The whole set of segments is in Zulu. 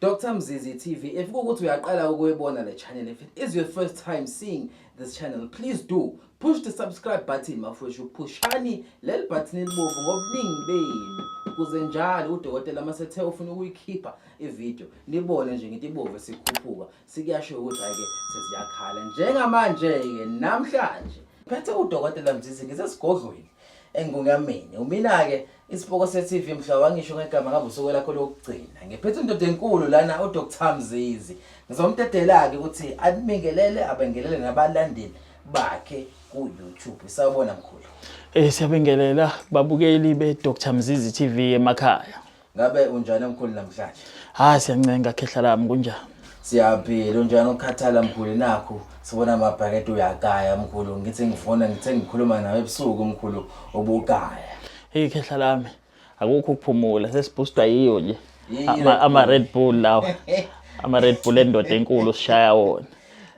Dr Mzizi TV if kukuthi uyaqala ukuyibona le channel if it is your first time seeing this channel please do push the subscribe button mafwethu phushani leli button elibovu ngobuningi benu kuze njalo udokotela uma sethe ufuna ukuyikhipha ivideo nibone nje ngithi ibovu sikhuphuka sikuyasho ukuthi hake sesiyakhala njengamanje-ke namhlanje phethe udokotela mzizi ngisesigodlweni engungameni umina-ke isipoko se-tv mhla wangisho ngegama ngabe usuku lakho lokugcina ngiphethe indoda enkulu lana udr mzizi ngizomdedela-ke ukuthi abingelele abengelele nabalandeli bakhe ku-youtube sawubona mkhulu um siyabingelela babukeli be-dr mzizi tv emakhaya Ngabe unjani mkhulu namhlanje? Hayi siyancenga khehla lami kunjani? Siyaphila unjani ukhathala mkhulu nakho sibona amabhakede uyagaya mkhulu ngithi ngifona ngithe ngikhuluma nawe ebusuku mkhulu ubugaya. Hey khehla lami akukho ukuphumula sesibhustwa yiyo nje. Ama, ama Red Bull lawa. Ama Red Bull endoda enkulu sishaya wona.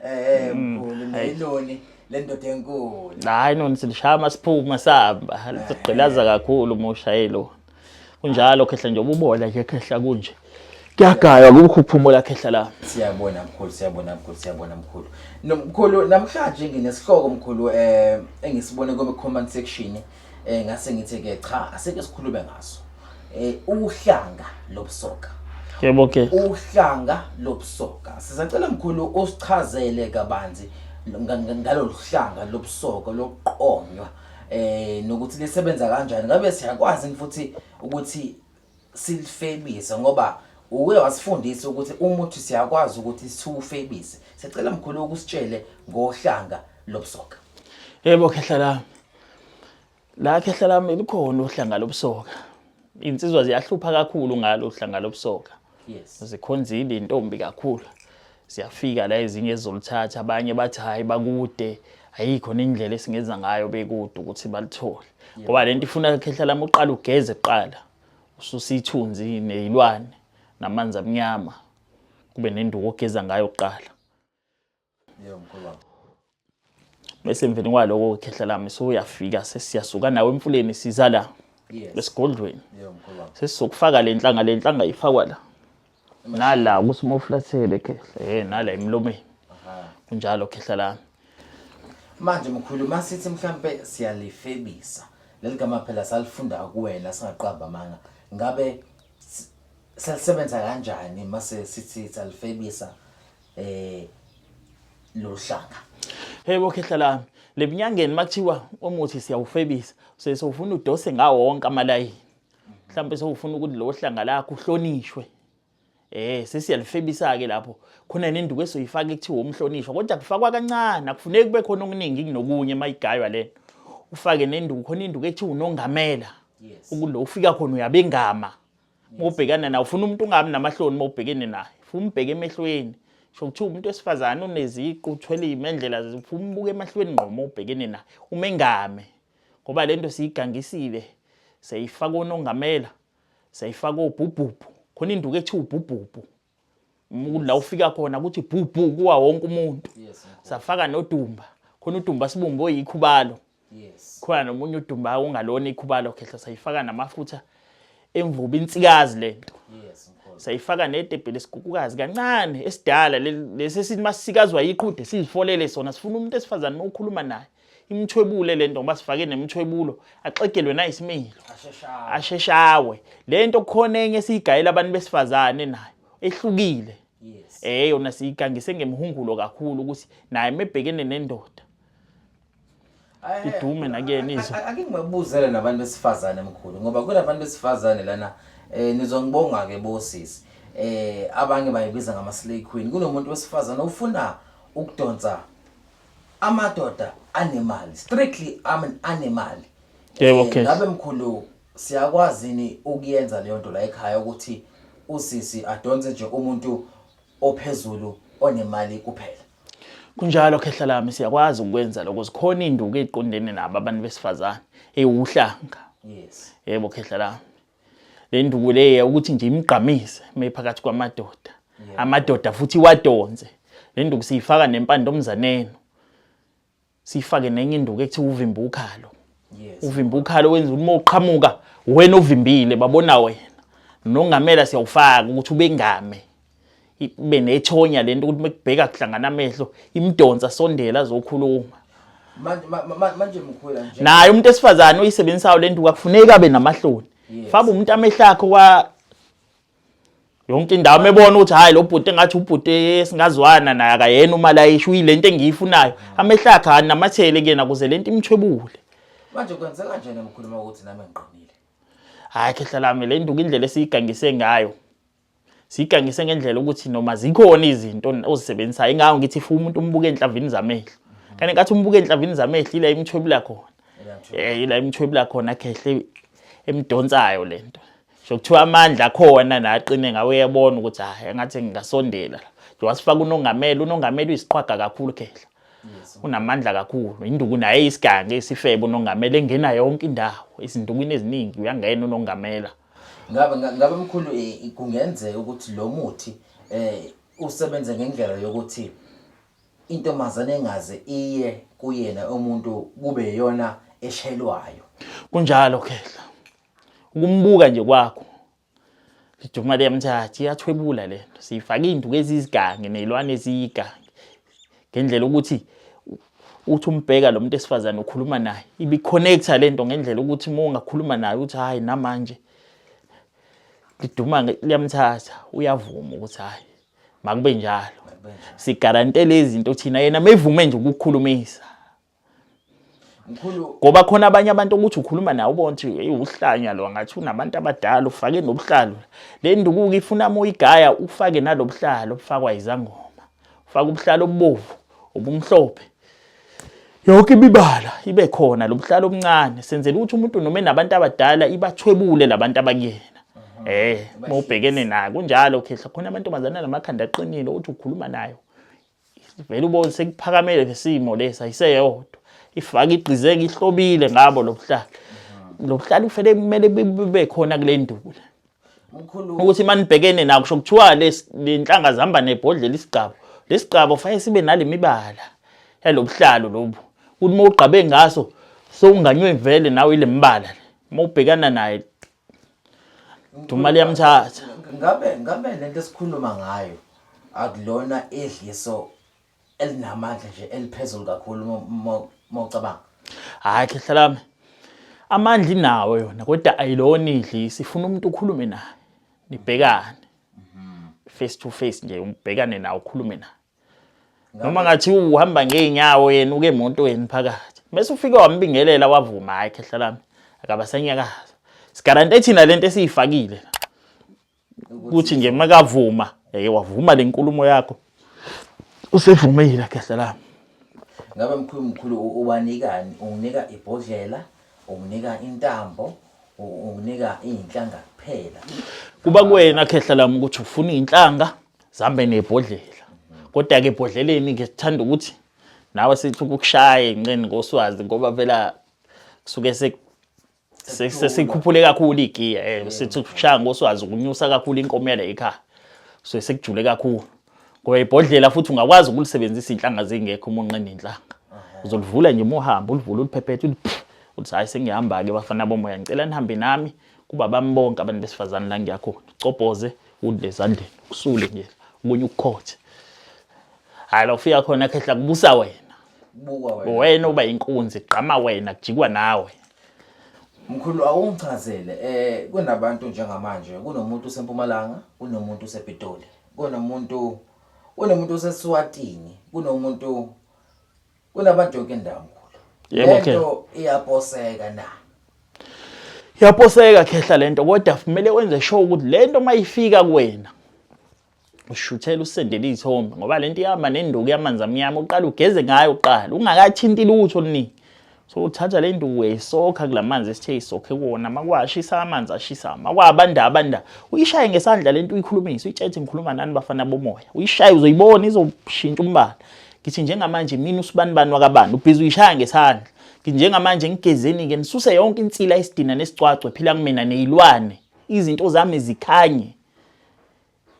Eh mm, mkhulu nayiloni lendoda enkulu. Hayi nonsi lishaya masiphuma sihamba. Ligqilaza kakhulu uma ushayelo. Kunjalo khehla nje ububola nje khehla kunje. Kuyagaywa kubukho ukuphumula khehla la. Siyabona mkhulu, siyabona mkhulu, siyabona mkhulu. Nomkhulu namhlanje nginesihloko mkhulu eh engisibone kome comment section eh ngase ngithe ke cha aseke sikhulume ngaso. Eh uhlanga lobusoka. Yebo ke. Uhlanga lobusoka. Sizacela mkhulu usichazele kabanzi ngalolu hlanga lobusoka lokuqonywa eh nokuthi lisebenza kanjani ngabe siyakwazi mfuthi ukuthi silifebise ngoba uwe wasifundisa ukuthi umuthi siyakwazi ukuthi siwufebise sicela mkhulu ukusitshele ngohlanga lobusoka yebo khehla lami la khehla lami likhona uhlanga lobusoka insizwa ziyahlupha kakhulu ngalo uhlanga lobusoka yes zikhonzile intombi kakhulu siyafika la ezinye ezolithatha abanye bathi hayi bakude ayikho nendlela esingenza ngayo bekude ukuthi balithole ngoba lento ifuna khehla lami uqala ugeze kuqala ususithunzi nezilwane namanzi amnyama kube nenduku ogeza ngayo kuqala Yebo mkhulu wami. Bese emveni kwaloko khehla lami so uyafika sesiyasuka nawe emfuleni siza la. Yes. Esigodlweni. Yebo mkhulu wami. Sesizokufaka le nhlanga le nhlanga ifakwa la. Nala kusimoflathele khehla. Eh nala emlomeni. Aha. Kunjalo khehla lami. Manje mkhulu masithi mhlambe siyalifebisa. Leli gama phela salifunda kuwena singaqamba amanga. Ngabe s- selisebenza kanjani mase sithi salifebisa eh lohlaka hey bokhe hlalami lebunyangeni makuthiwa umuthi siyawufebisa sesofuna udose ngawo wonke amalayini mhlawumbe sewufuna ukuthi lo hlanga lakho uhlonishwe eh sesiyalifebisa ke lapho khona nenduku esoyifaka ekuthiwa umhlonishwa kodwa kufakwa kancane akufuneki kube khona okuningi kunokunye mayigaywa lena ufake nenduku khona induku ekuthiwa unongamela ukulo ufika khona uyabengama uma ubhekana naye ufuna umuntu ungabi namahloni uma ubhekene naye ufuna umbheke emehlweni sho kuthiwa umuntu wesifazane uneziqu uthwele iy'mendlela ufuna umbuke emahlweni ngqo uma ubhekene naye uma engame ngoba le nto siyigangisile seyifaka onongamela seyifaka obhubhubhu khona induku ethi ubhubhubhu la ufika khona kuthi bhubhu kuwa wonke umuntu safaka nodumba khona udumba sibumbe oyikhubalo yes khona nomunye udumba ongalona ikhubalo khehla sayifaka namafutha emvubu insikazi lento yes sayifaka nedebhele isigukukazi kancane esidala lesi sithi masikazwa yiqhude sizifolele sona sifuna umuntu esifazane okhuluma naye imthwebule lento ngoba sifake nemthwebulo axegelwe nayisimilo asheshawe lento khona enye siyigayela abantu besifazane nayo ehlukile eh yona siyigangise ngemihungulo kakhulu ukuthi naye mebhekene nendoda idume nakuyena izwe akingibabuzele nabantu besifazane mkhulu ngoba kunabantu besifazane lana eh nizongibonga ke bosisi eh abanye bayibiza ngama slay queen kunomuntu wesifazane ufuna ukudonsa amadoda anemali strictly I'm an animal Yebo, Eh, Khethi. ngabe mkhulu siyakwazi ni ukuyenza leyo nto la ekhaya ukuthi usisi adonse nje umuntu ophezulu onemali kuphela Kunjalo khehla lami siyakwazi ukwenza lokho zikhona induku eziqondene nabo abantu besifazane ewuhlanga yes yebo khehla lami le nduku le ukuthi nje imgqamise mephakathi kwamadoda amadoda futhi iwadonse le nduku siyifaka nempande omzaneni siyifake nenye induku ekuthiwa uvimba ukhalo uvimba ukhalo wenza uma uqhamuka wena ovimbile babona wena nongamela siyawufaka ukuthi ubengame ibe nethonya lento ukuthi mekubheka kuhlangana amehlo imdonsa sondela azokhuluma manje mkhwela nje naye umuntu esifazane uyisebenzisayo lento kwakufuneka abe namahloni faba umuntu amehlakho kwa yonke indawo mebona ukuthi hayi lo bhuti engathi ubhuti esingazwana naye akayena uma layisho uyilento engiyifunayo amehlakhe anamathele kuyena kuze lento imthwebule manje kwenzeka kanjani mkhuluma ukuthi nami ngiqinile hayi khehla lami le nduku indlela esiyigangise ngayo sigangise ngendlela ukuthi noma zikhona izinto ozisebenzisayo ingawo ngithi futhi umuntu umbuke enhlavini zamehlo kanti ngathi umbuke enhlavini zamehlo ila imthwebula khona eh ila imthwebula khona khehle emdonsayo lento sokuthiwa amandla akhona naqine ngawe yabona ukuthi hayi ngathi ngingasondela njengoba sifaka unongameli unongameli uyisiqhwaga kakhulu khehle unamandla kakhulu induku naye isigange isifebe unongameli engena yonke indawo izindukwini eziningi uyangena unongamela Ngabe ngabe mkhulu eh, kungenzeka ukuthi lo muthi eh usebenze ngendlela yokuthi intombazane engaze iye kuyena umuntu kube yona eshelwayo. Kunjalo khehla. Ukumbuka nje kwakho. Liduma liyamthatha iyathwebula lento. Siyifaka induku ezizigange nezilwane eziyigange. ngendlela ukuthi uthi umbheka lo muntu esifazane ukhuluma naye ibiconnecta le nto ngendlela ukuthi uma ungakhuluma naye uthi hhayi namanje liduma liyamthatha uyavuma ukuthi hhayi makube njalo sigarantele izinto thina yena mevume nje ukukhulumisa mkhulu ngoba khona abanye abantu ukuthi ukhuluma nawo bonke hey uhlanya lo ngathi unabantu abadala ufake nobuhlalo le ndukuko ifuna moyigaya ufake nalobuhlalo obufakwa izangoma ufaka ubuhlalo obubovu obumhlophe yonke imibala ibe khona lobuhlalo obuncane senzela ukuthi umuntu noma enabantu abadala ibathwebule labantu abakuyena eh mawubhekene naye kunjalo khehla khona amantombazana namakhanda aqinile uthi ukhuluma nayo vele ubone sekuphakamele lesimo lesi ayiseyodwa ifaka igqizeke ihlobile ngabo lobuhlali lobuhlali ufele kumele bube khona kule ndula ukuthi manibhekene nawo kusho kuthiwa lenhlanga zihamba nebhodlela isigcabo lesigcabo fanele sibe nalemibala yalobuhlalo lobu ukuthi uma ugqabe ngaso sowunganywe vele nawe ile mbala uma ubhekana naye Dumali yamthatha. Ngabe ngabe lento esikhuluma ngayo akulona edliso elinamandla nje eliphezulu kakhulu mocabanga. Hayi khehla lami. Amandla inawo yona kodwa ayilona idlisi ifuna umuntu ukhulume naye. Nibhekane. Mhm. Face to face nje ubhekane naye ukhulume naye. noma ngathi uhamba ngeenyawo yena uke emotweni phakathi bese ufike wambingelela wavuma hayi khehla lami akabasenyakaza sigarante thina lento esiyifakile ukuthi nje makavuma eye wavuma le nkulumo yakho usevumile khehla lami ngabe mkhulu mkhulu ubanikani unginika ibhodlela unginika intambo unginika inhlanga kuphela kuba kuwena khehla lami ukuthi ufuna inhlanga zihambe nebhodlela kodwa-ke ebhodleleni ke sithanda ukuthi nawe sithi ukushaye nqeni ngoswazi ngoba vela kusuke sesikhuphule kakhulu igiya um eh, sithi ukushaya ngoswazi ukunyusa kakhulu inkomela ekhaya so sekujule kakhulu ngoba ibhodlela futhi ungakwazi ukulisebenzisa iy'nhlanga zingekho uma unqena iy'nhlanga uzolivula nje uma uhamba ulivule uliphephethe ulithi hhayi sengihamba-ke bafana bomoya ngicela nihambe nami kubabami bonke abantu besifazane la ngiyakhona cobhoze udle ezandleni kusule nje kunye ukukhothe hayi la ufika khona khehla kubusa wena buka wena wena uba inkunzi gqama wena kujikwa nawe Mkhulu awungichazele eh kunabantu njengamanje kunomuntu usempumalanga kunomuntu usepitoli kunomuntu kunomuntu oseswatini kunomuntu Kunabadoki endankulu. Yebo, Khehla. Lento iyaposeka na. Iyaposeka khehla lento kodwa kumele wenze sure ukuthi lento mayifika kuwena ushuthela usendele izithombe ngoba lento ihamba nenduku yamanzi amnyama uqala ugeze ngayo uqala ungakathinti lutho oluningi so uthatha le nduku uyayisokha kula manzi esithe isokhe kuwona makwashisa amanzi ashisa makwabanda abanda uyishaye ngesandla lento uyikhulumisa uyitshethe ngikhuluma nani bafana bomoya uyishaye uzoyibona izoshintsha umbala ngithi njengamanje mina usibanibani wakabani ubhizi uyishaya ngesandla ngithi njengamanje ngigezeni-ke nisuse yonke insila isidina nesicwacwe phila kumina neyilwane izinto zami zikhanye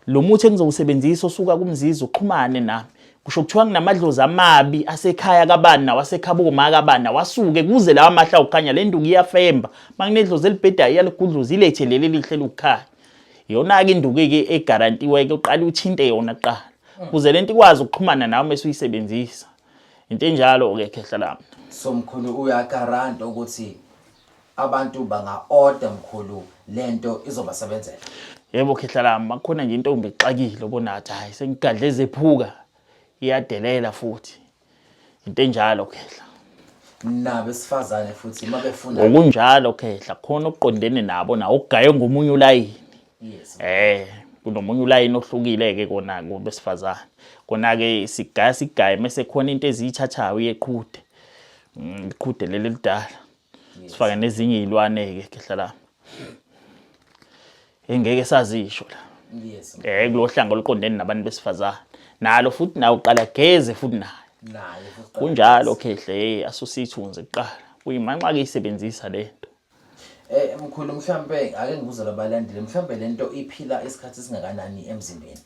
lo muthi engizowusebenzisa osuka kumzizi uxhumane nami kusho kuthiwa nginamadlozi amabi asekhaya kabani nawasekhaba omaka kabani nawasuke kuze lawa mahla ukukhanya le nduku iyafemba uma kunedlozi elibhedayo iyaligudluza ilethe leli lihle lokukhanya yona-ke induku-ke egarantiwe-ke uqale uthinte yona kuqala kuze lento ikwazi ukuxhumana nawe mase uyisebenzisa into enjalo ke khehla lami so mkhulu uyagaranta ukuthi abantu banga order mkhulu lento izobasebenzela yebo khehla lami makukhona nje intombi exakile obonathi hayi sengigadle zephuka iyadelela futhi into enjalo khehla nabo esifazane futhi uma befuna ngokunjalo khehla khona okuqondene nabo nawo okugaye ngomunye ulayini yes eh kunomunye ulayini ohlukile ke kona kubesifazane kona ke sigaya sigaye mase khona into eziyithathayo iyeqhude mm, iqhude leli lidala sifake nezinye izilwane-ke khehla lami engeke sazisho la yes eh kulo hlanga oluqondene nabantu besifazane nalo futhi nawo uqala geze futhi naye naye kunjalo khehle hey asusithunze kuqala kuyimanxa ke isebenzisa lento eh mkhulu mhlambe ake ngibuze labalandile mhlambe lento iphila isikhathi singakanani emzimbeni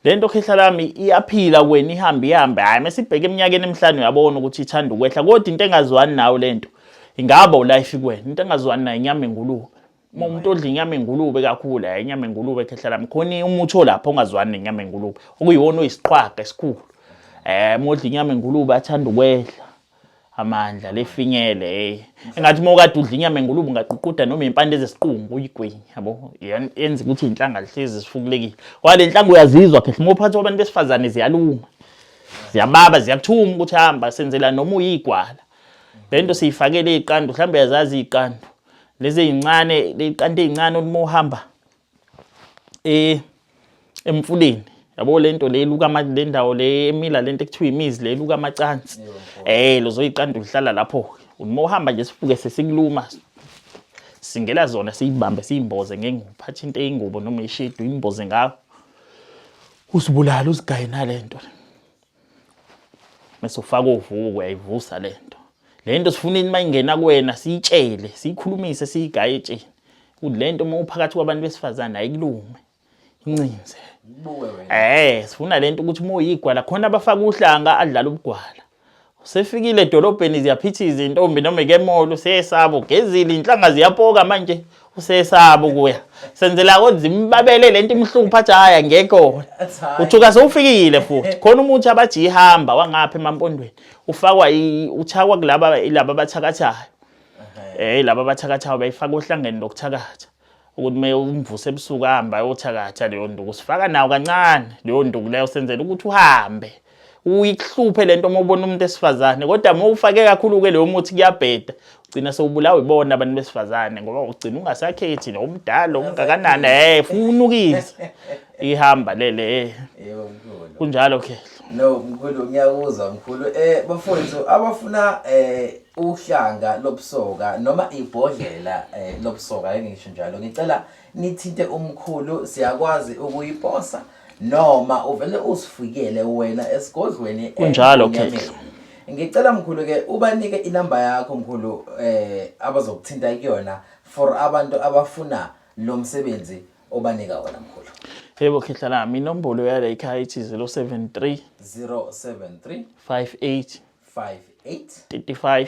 le nto khehla lami iyaphila kwena ihambe ihambe hhayi uma sibheke eminyakeni emihlanu uyabona ukuthi ithanda ukwehla kodwa into engazwani nawo le nto ingaba ulife kuwena into engazwani nayo inyama engulube uma umuntu odla inyama engulube kakhulu hhayi inyama engulube khehla lami khona umuthi olapho ongazwani nenyama engulube okuyiwona oyisiqhwaga esikhulu um uma odla inyama engulube athanda ukwehla amandla lefinyele hey engathi uma ukade udla inyama engulube ungaququda noma impande zesiqungu uyigwenya yabo yenza ukuthi inhlanga lihlezi sifukulekile wale nhlanga uyazizwa phela uma uphathi wabantu besifazane ziyaluma ziyababa ziyakuthuma ukuthi hamba senzela noma uyigwala lento siyifakele iqandu mhlawumbe yazazi iqandu lezi ezincane leqandu ezincane uma uhamba eh emfuleni yabo lento le luka ama le ndawo le emila lento ekuthiwa imizi le luka amacansi eh lozoyiqanda uhlala lapho uma uhamba nje sifuke sesikuluma singela zona siyibambe siyimboze ngenguphatha into eyingubo noma ishedu imboze ngayo usibulala usigaye nalento mase ufaka uvuko uyayivusa le nto le nto sifuna uma ingena kuwena siyitshele siyikhulumise siyigaye etsheni ukuthi le nto uma uphakathi kwabantu besifazane ayikulume incinze eh sifuna le nto ukuthi uma uyigwala khona abafaka uhlanga adlala ubugwala usefikile edolobheni ziyaphithiza intombi noma ikemolo seyesabo gezile inhlanga ziyapoka manje usesaba ukuya senzela kodwa imbabele lento imhlupha athi haya ngekho uthuka sewufikile futhi khona umuthi abathi ihamba wangapha emampondweni ufakwa uchakwa kulaba ilaba abathakathayo eh laba abathakathayo bayifaka ohlangene lokuthakatha ukuthi me umvuse ebusuku ahamba ayothakatha leyo nduku sifaka nawo kancane leyo nduku leyo senzela ukuthi uhambe uyikuhluphe lento uma ubona umuntu esifazane kodwa uma ufake kakhulu ke leyo muthi kuyabheda ugcina sewubulawa ibona abantu besifazane ngoba ugcina ungasakhethi lo umdala ungakanani eh funukisa ihamba lele eh. yebo mkhulu kunjalo ke no mkhulu ngiyakuzwa mkhulu eh bafowethu abafuna eh uhlanga lobusoka noma ibhodlela eh, lobusoka engisho njalo ngicela nithinte umkhulu siyakwazi ukuyiposa noma uvele usifikele wena esigodlweni eh, kunjalo okay ngicela mkhulu ke ubanike inamba yakho mkhulu eh abazokuthinta kuyona for abantu abafuna lo msebenzi obanika wona mkhulu yebo khehla lami inombolo yala ekhaya ithi 073 073 58 58 35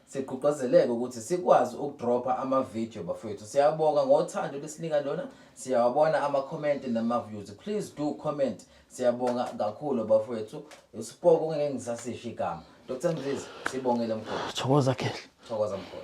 sigqugqazeleke ukuthi sikwazi ukudropha ama-video bafowethu siyabonga ngothando lesinika lona siyawabona ama-comment nama-views please do comment siyabonga kakhulu bafowethu usipoko ngeke ngisasisho igama dr mzizi sibongele mkhulu thokoza khehla thokoza mkhulu